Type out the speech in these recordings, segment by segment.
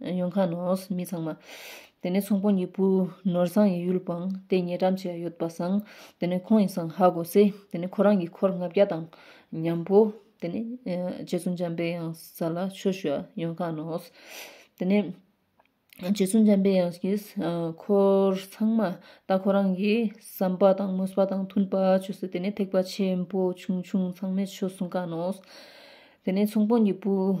ཡོང་ཁ་ནོ། མི་ཚང་མ། དེ་ནས་ཚོང་པོ་གཉིས་པོ་ནོར་བཟང་ཡིན་ཡུལ་སྤང། དེ་ཉེ་འགྲམ་ཞིག་ཡོད་པ་བཟང། དེ་ནས་ཁོང་ཡིན་བཟང་ཧ་གོ་ཚེ། དེ་ནས་ཁོ་རང་གི་འཁོར་ལྔ་བརྒྱ་དང། མཉམ་པོ། དེ་ནས། རྗེ་བཙུན་འཇམ་པའི་དབྱངས་ས་ལ་ཆོས་ཞུ་བ་ཡོང་ཁ་ནོ། དེ་ནས། རྗེ་བཙུན་འཇམ་པའི་དབྱངས་ཀྱིས། འཁོར་ཚང་མ། ད་ཁོ་རང་གི་བསམ་པ་དང་མོས་པ་དང་མཐུན་པ་བྱོས་ཟེར་དེ་ནས་ཐེག་པ་ཆེན་པོ་ཆུང་ཆུང་ཚང་མས་ཆོས་གསུང་ཁ་ནོ། དེ་ནས་ཚོང་པོ་གཉིས་པོ།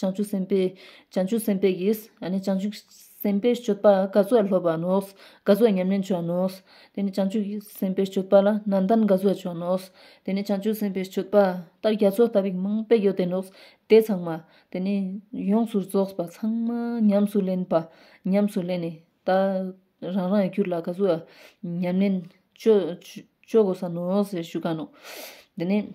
བྱང་ཆུབ་སེམས་དཔའི། བྱང་ཆུབ་སེམས་དཔའ་ཡིས། བྱང་ཆུབ་སེམས་དཔའི་སྤྱོད་པ་སྐལ་བཟོར་སློབ་པར་ནོ། སྐལ་བཟོར་ཉམས་ལེན་བྱོས་ནོ། དེ་ནས་བྱང་ཆུབ་སེམས་དཔའི་སྤྱོད་པ་ལ་ནང་ལྟར་སྐལ་བཟོར་བྱོས་ནོ། དེ་ནས་བྱང་ཆུབ་སེམས་དཔའི་སྤྱོད་པ། ལྟར་རྒྱ་མཚོ་ལྟ་བུའི་མིང་དཔེ་ཡོད་དེ་ནོ། དེ་ཚང་མ། དེ་ནས་ཡོངས་སུ་རྫོགས་པ་ཚང་མ་ཉམས་སུ་ལེན་པ། ཉམས་སུ་ལེན་ནས། ད་རང་རང་གི་རྒྱུད་ལ་སྐལ་བཟོ་ཉམས་ལེན། སྤྱོད་དགོས་ས་ནོ་ཞེས་ཞུ་ག་ནོ། དེ་ནས།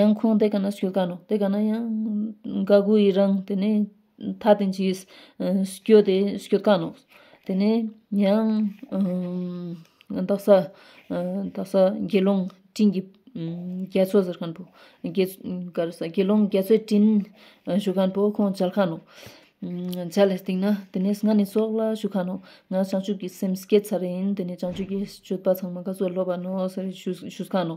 ཡང་ཁོང་དེ་ག་ན་སུས་ག་ནོ་དེ་ག་ན་ཡང་ག་གུ་ཡི་རང་དེ་ནས་ད་ཐེངས་ཀྱི་སྐྱོ་དེ་སྐྱོ་ག་ནོ་དེ་ནས་ཡང་རྡ་ས་རྡ་ས་དགེ་སློང་སྤྲིན་གྱི་རྒྱ་མཚོ་ཟེར་མཁན་པོ་དགེ་ག་རེ་ས་དགེ་སློང་རྒྱ་མཚོའི་སྤྲིན་བཞུགས་མཁན་པོ་ཁོང་མཇལ་ཁ་ནོ་མཇལ་བའི་སྟེང་ན་དེ་ནས་ང་ནི་སོག་ལ་བཞུགས་ཁ་ནོ་ང་བྱང་ཆུབ་ཀྱི་སེམས་བསྐྱེད་ཚར་ཡིན་དེ་ནས་བྱང་ཆུབ་ཀྱི་སྤྱོད་པ་ཚང་མ་ག་ཚོད་སློབ་པ་ནོ་ཟེར་བཞུགས་ཁ་ནོ།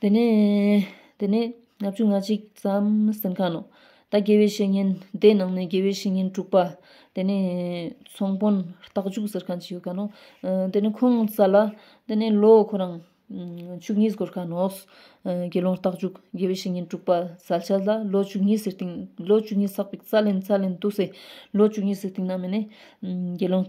དེ་ནས་ལྔ་བཅུ་ང་གཅིག་ཙམ་གསེར་ཁང་ནོ། ད་དགེ་བའི་བཤེས་གཉེན་སྡེ་ནང་ནས་དགེ་བའི་བཤེས་གཉེན་དྲུག་པ། དེ་ནས་ཚོང་དཔོན་རྟགས་འཇུག་གསེར་ཁང་ཅིག་ཡོད་ཀ་ནོ། དེ་ནས་ཁོང་བཙའ་ལ། དེ་ནས་ལོ་ཁོ་རང་བཅུ་གཉིས་སྒོར་ཁ་ནོ། དགེ་སློང་རྟགས་འཇུག་དགེ་བའི་བཤེས་གཉེན་དྲུག་པ་བཙའ་བྱས་ལ་ལོ་བཅུ་གཉིས་སའི་སྟེང་ལོ་བཅུ་གཉིས་བསགས་པའི་བཙའ་ལན་བཙའ་ལན་དུ་སའི་ལོ་བཅུ་གཉིས་སའི་སྟེང་ན་མི་ནས་དགེ་སློང།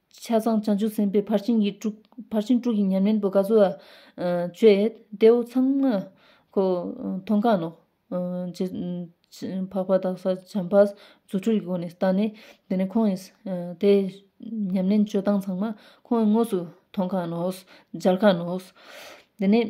ཆ་ཚང་བྱང་ཆུབ་སེམས་དཔའི་ཕར་ཕྱིན་གྱི་དྲུག། ཕར་ཕྱིན་དྲུག་གི་ཉམས་ལེན་པོ་ག་ཚོལ་བ། བཅོས། ལྟེ་བོ་ཚངས། མཁོ། མཐོང་གང། ནོག། ཅེས། འཕགས་པ་དག་ས་བྱམས་པ། རྫུ་འཕྲུལ་གྱི་སྒོ་ནས་བརྟགས་ནས། དེ་ནས་ཁོང་གིས། དེ། ཉམས་ལེན་སྤྱོད་སྟངས་ཚང་མ། ཁོང་གིས་དངོས་སུ། མཐོང་གང། ནོག། སྦྱར་གང། ནོག། དེ་ནས།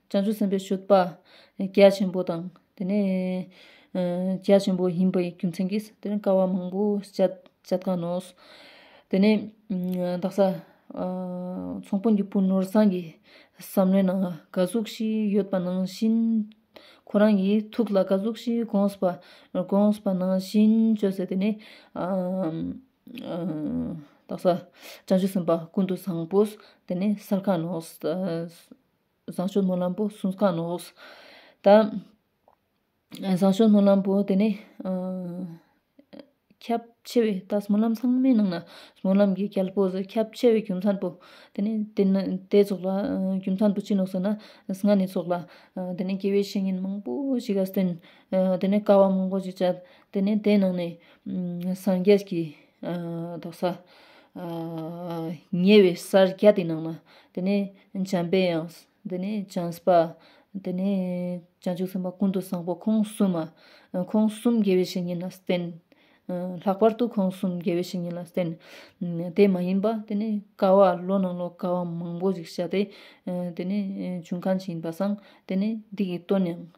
བྱང་ཆུབ་སེམས་དཔའི་ཆོས་པ། རྒྱ་ཆེན་པོ་དང། དེ་ནས། རྒྱ་ཆེན་པོ་ཡིན་པའི་རྒྱུ་མཚན་གྱིས་དེ་ནི་ཀ་བ་མང་པོ་སྤྱད་དཀའ་ནོ། དེ་ནས། བདག་ས། ཚོང་དཔོན་གྱི་བུ་ནོར་བཟངས་ཀྱི། བསམ་བློའི་ནང་དགའ་གཟུགས་ཤིག་ཡོད་པ་ནང་བཞིན། ཁོ་རང་གི་ཐུགས་ལ་དགའ་གཟུགས་ཤིག་དགོངས་པ། དགོངས་པ་ནང་བཞིན་བཅོས་ཟེར་དེ་ནས། བདག་ས། བྱང་ཆུབ་སེམས་དཔའ་ཀུན་ཏུ་བཟང་པོ། དེ་ནས་སར་ཁ་ནོ། བཟང་སྤྱོད་སྨོན་ལམ་པོ་གསུམ་གང་ནས་འོངས། ད། བཟང་སྤྱོད་སྨོན་ལམ་པོ་དེ་ནི། ཁྱབ་ཆེ་བའི་ད་སྨོན་ལམ་ཚང་མའི་ནང་ན། སྨོན་ལམ་གྱི་རྒྱལ་པོ་ཟེར་ཁྱབ་ཆེ་བའི་རྒྱུ་མཚན་པོ། དེ་ནི་དེ་ནི་དེ་སོགས་ལ་རྒྱུ་མཚན་པོ་ཅི་ནོག་ཟེར་ན། སྔར་ནས་སོགས་ལ། དེ་ནི་དགེ་བའི་བཤེས་གཉེན་མང་པོ་ཞིག་ག་བསྟེན། དེ་ནི་དཀའ་བ་མང་པོ་ཞིག་སྤྱད། དེ་ནི་དེའི་ནང་ནས། སངས་རྒྱས་ཀྱི། དོགས་ས། ཉེ་བའི་སར་རྒྱ་དེའི་ནང་ན། དེ་ནས་འཇམ་པའི་དབྱངས། དེ་ནས་བྱང་སྤ། དེ་ནས་བྱང་ཆུབ་སེམས་དཔའ་ཀུན་ཏུ་བཟང་པོ་ཁོང་གསུམ་མ། ཁོང་གསུམ་དགེ་བའི་བཤེས་གཉེན་ལ་བསྟེན། ལྷག་པར་དུ་ཁོང་གསུམ་དགེ་བའི་བཤེས་གཉེན་ལ་བསྟེན། དེ་མ་ཡིན་པ། དེ་ནས་ཀ་བ་ལོ་ན་ལོ་ཀ་བ་མང་པོ་ཞིག་བྱ་སྟེ། དེ་ནས་བྱུང་ཁམས་ཀྱི་ཡིན་པ་བསྲང། དེ་ནས་སྡིག་གིས་བཏོན་ཡང།